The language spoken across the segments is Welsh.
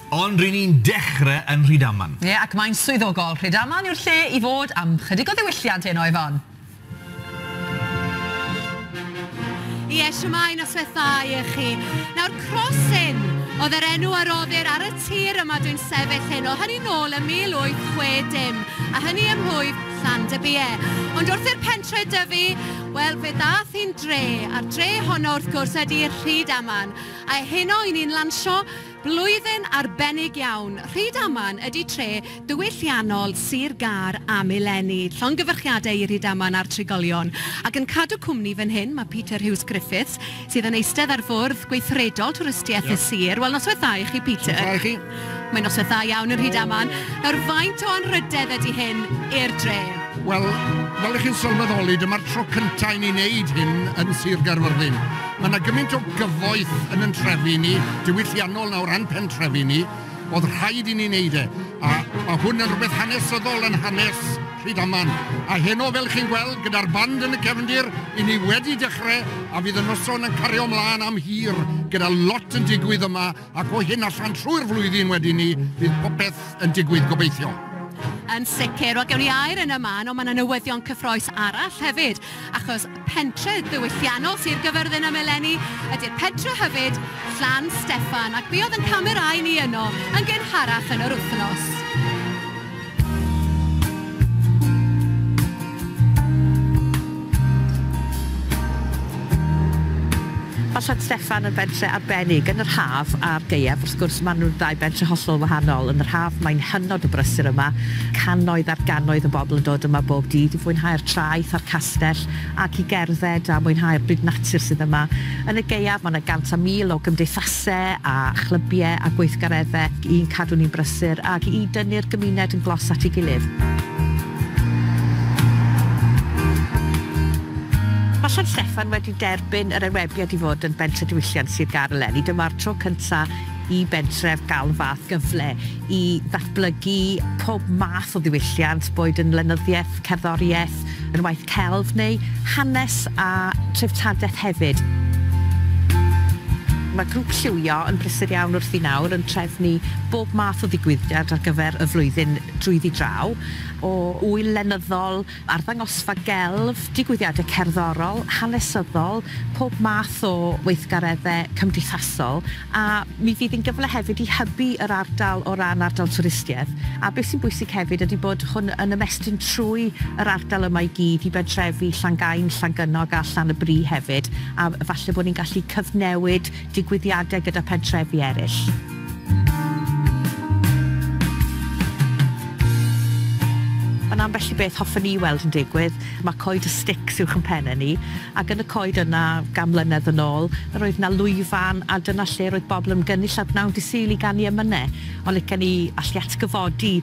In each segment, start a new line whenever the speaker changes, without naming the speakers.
Ond ry'n ni'n dechrau yn Rhydaman. Ie, ac mae'n swyddogol.
Rhydaman yw'r lle i fod am chydig o ddiwylliant heno, Ifon.
Ie, shwmae, noswaith dda i e chi. Nawr, Crosin oedd yr enw a roddir ar y tir yma dwi'n sefyll heno, hynny nôl ym 1860, a hynny ym mhlwyf Llandybie. Ond wrth i'r pentre dyfu, Wel, fe ddaeth un dre, a'r dre honno wrth gwrs ydy Rhydaman, a heno i ni'n lansio blwyddyn arbennig iawn. Rhydaman ydy tre diwylliannol Sir Gâr am eleni. Llongyfarchiadau i Rhydaman a'r trigolion. Ac yn cadw cwmni fan hyn, mae Peter Hughes-Griffiths, sydd yn eistedd ar fwrdd gweithredol twristiaeth y sir. Wel, noswaith dda i chi, Peter. Noswaith dda i chi. Mae'n
noswaith dda
iawn yn Rhydaman. Nawr, faint o anrhydedd ydy hyn i'r dre? Wel,
fel ych chi'n sylweddoli, dyma'r tro cyntaf i ni wneud hyn yn Sir Gaerfyrddin. Mae yna gymaint o gyfoeth yn yn trefi ni, diwylliannol nawr a'n pentrefi ni, oedd rhaid i ni wneud e. A mae hwn yn rhywbeth hanesyddol yn hanes Rhydaman, a heno fel chi'n gweld gyda'r band yn y cefndir, i ni wedi dechrau a fydd y noson yn cario mlaen am hir gyda lot yn digwydd yma ac o hyn allan trwy'r flwyddyn wedyn ni fydd popeth yn digwydd gobeithio. Yn
sicr, wel gewn ni air yn y man ond mae yna newyddion cyffroes arall hefyd achos Pentre ddiwylliannol Sir Gyfyrddin am eleni ydy'r pentre hyfyd, Llan Steffan, ac mi oedd ein camerâu ni yno yn gynharach yn yr wythnos.
Mae Sant Steffan yn bentre arbennig yn yr haf a'r gaeaf, wrth gwrs, maen nhw'n ddau bentre hollol wahanol. Yn yr haf, mae'n hynod o brysur yma, cannoedd ar gannoedd o bobl yn dod yma bob dydd i fwynhau'r traeth a'r castell ac i gerdded a mwynhau'r byd natur sydd yma. Yn y gaeaf, mae yna gant a mil o gymdeithasau a chlybiau a gweithgareddau i'n cadw ni'n brysur ac i dynnu'r gymuned yn glos at ei gilydd. Mae Sant Steffan wedi Derbyn yr enwebiad i fod yn Bentref Diwylliant Sir Gâr eleni. Dyma'r tro cyntaf i bentref gael y fath gyfle i ddatblygu pob math o ddiwylliant, boed yn lenyddiaeth, cerddoriaeth, yn waith celf neu hanes a threftadaeth hefyd. Mae Grŵp Lliwio yn brysur iawn wrthi nawr yn trefnu bob math o ddigwyddiad ar gyfer y flwyddyn drwyddi draw, o ŵyl lenyddol, arddangosfa gelf, digwyddiadau cerddorol, hanesyddol, pob math o weithgareddau cymdeithasol, a mi fydd hi'n gyfle hefyd i hybu yr ardal o ran ardal twristiaeth, a beth sy'n bwysig hefyd ydy bod hwn yn ymestyn trwy yr ardal yma i gyd i bentrefi Llangain, Llangynnog a Llan-y-bri hefyd, a falle bod ni'n gallu cyfnewid digwyddiadau gyda phentrefi eraill. Ond ambell i beth hoffen i weld yn digwydd, mae coed y stics uwch yn pennau ni, ac yn y coed yna, gan mlynedd yn ôl, yr oedd 'na lwyfan, a dyna lle roedd bobl yn gynnull a gwnawn Dy Sul i ganu emynau. Ond licen i allu atgyfodi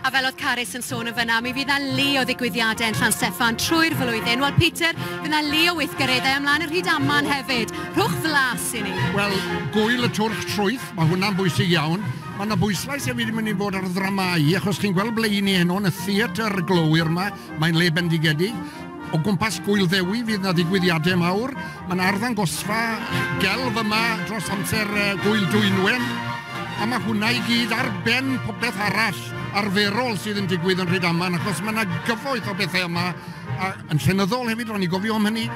A fel oedd Carys yn sôn yn fyna, mi fydd 'na lu o ddigwyddiadau yn Llan Steffan trwy'r flwyddyn. Wel, Peter, fydd 'na lu o weithgareddau ymlaen yn Rhydaman hefyd. Rhowch flas i ni. Wel, gŵyl y twrch
trwyth, mae hwnna'n bwysig iawn. Mae 'na bwyslais hefyd yn mynd i fod ar ddramâu, achos chi'n gweld ble 'y ni heno, yn y theatr glowyr 'ma, mae'n le bendigedig. O gwmpas Gŵyl Ddewi fydd 'na ddigwyddiadau mawr. Mae 'na arddangosfa gelf yma dros amser Gŵyl Dwynwen, a mae hwnna i gyd ar ben popeth arall arferol sydd yn digwydd yn Rhydaman, achos mae 'na gyfoeth o bethau yma, a yn llenyddol hefyd, ro'n i'n gofio am hynny.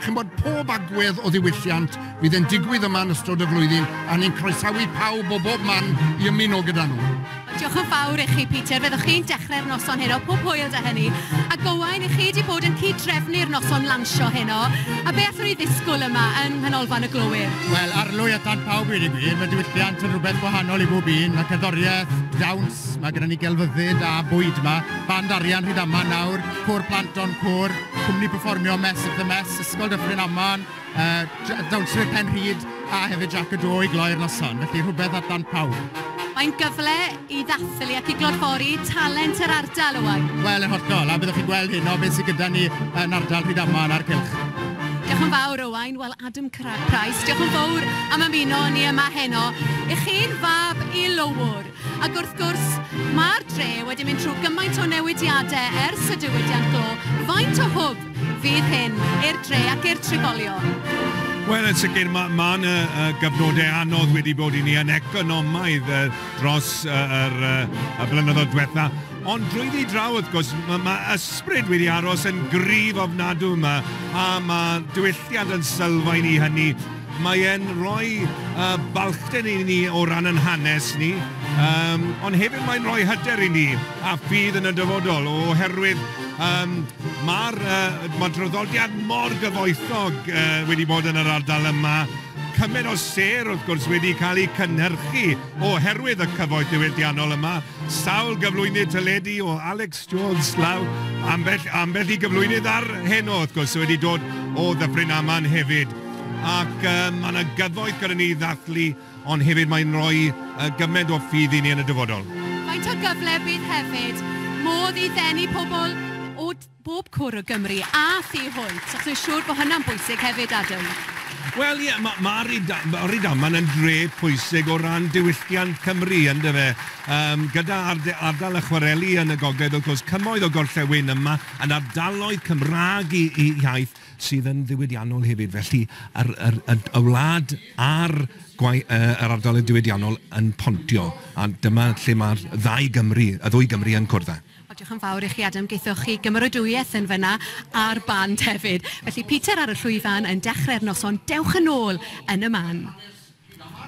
Chi'n gwybod, pob agwedd o ddiwylliant fydd yn digwydd yma yn ystod y flwyddyn, a ni'n croesawu pawb o bob man i ymuno gyda nhw. Diolch yn fawr i
chi Peter, fyddwch chi'n dechrau'r noson heno, pob hwyl da hynny. A Gowain, i chi wedi bod yn cyd-drefnu'r noson lansio heno, a be allwn ni ddisgwyl yma yng Nghanolfan y Glowyr? Wel, arlwy a tan
pawb i wedi gwir, mae diwylliant yn rhywbeth gwahanol i bob un, mae cerddoriaeth, dawns, mae gyda ni gelfyddyd a bwyd yma, band arian Rhydaman nawr, côr plant Don Côr, cwmni perfformio Mess of the Mess, Ysgol Dyffryn Aman, Yy dawnswyr pen rhyd a hefyd Jac y Do i gloi'r noson, felly rhywbeth at ddant pawb. Mae'n gyfle
i ddathlu ac i glodfori talent yr ardal, Owain. Wel, yn
hollol, a byddwch chi'n gweld
hyn
o beth sydd gyda ni yn ardal Rhydaman a'r cylch. Diolch yn
fawr, Owain. Wel, Adam Price, diolch yn fawr am ymuno â ni yma heno. I chi'n fab i Lowr. Ac wrth gwrs, mae'r dre wedi mynd trwy gymaint o newidiadau ers y diwydiant glo, faint o hwb fydd hyn i'r dre ac i'r trigolion? Wel, yn
sicr, mae ma yna uh, gyfnodau anodd wedi bod i ni yn economaidd uh, dros uh, yr, uh, y blynyddoedd diwetha. Ond drwy ddi draw, wrth gwrs, mae ma ysbryd wedi aros yn gryf ofnadw yma, a mae diwylliant yn sylfaen i hynny. Mae e'n rhoi yy balchder i ni o ran yn hanes ni, yym ond hefyd mae'n rhoi hyder i ni a ffydd yn y dyfodol oherwydd yym ma'r yy ma' traddodiad mor gyfoethog yy wedi bod yn yr ardal yma, cymaint o sêr wrth gwrs wedi cael eu cynhyrchu oherwydd y cyfoeth ddiwylliannol yma, sawl gyflwynydd teledu o Alex Jones law, ambell ambell i gyflwynydd ar heno wrth gwrs sy wedi dod o Ddyffryn Aman hefyd. Ac yym mae 'na gyfoeth gyda ni i ddathlu, ond hefyd mae'n rhoi yy gymaint o ffydd i ni yn y dyfodol. Faint o gyfle
bydd hefyd modd i ddenu pobl o bob cwr o Gymru a thu hwnt, achos fi'n siŵr bod hynna'n bwysig hefyd, Adam? Wel ie, ma'
ma' Ryda- ma' Rydaman yn dre pwysig o ran diwylliant Cymru, yn dyfe? Yym gyda arde- ardal y chwareli yn y gogledd, wrth gwrs, cymoedd o gorllewin yma, yn ardaloedd Cymraeg i i iaith, sydd yn ddiwydiannol hefyd. Felly, yr, yr, y, y wlad a'r gwai- yy, yr ardaloedd diwydiannol yn pontio, a dyma lle mae'r ddau Gymru, y ddwy Gymru yn cwrdd â. O, diolch yn fawr i chi,
Adam. Geithoch chi gymeradwyaeth yn fyna, a'r band hefyd. Felly, Peter ar y llwyfan yn dechrau'r noson. Dewch yn ôl yn y man.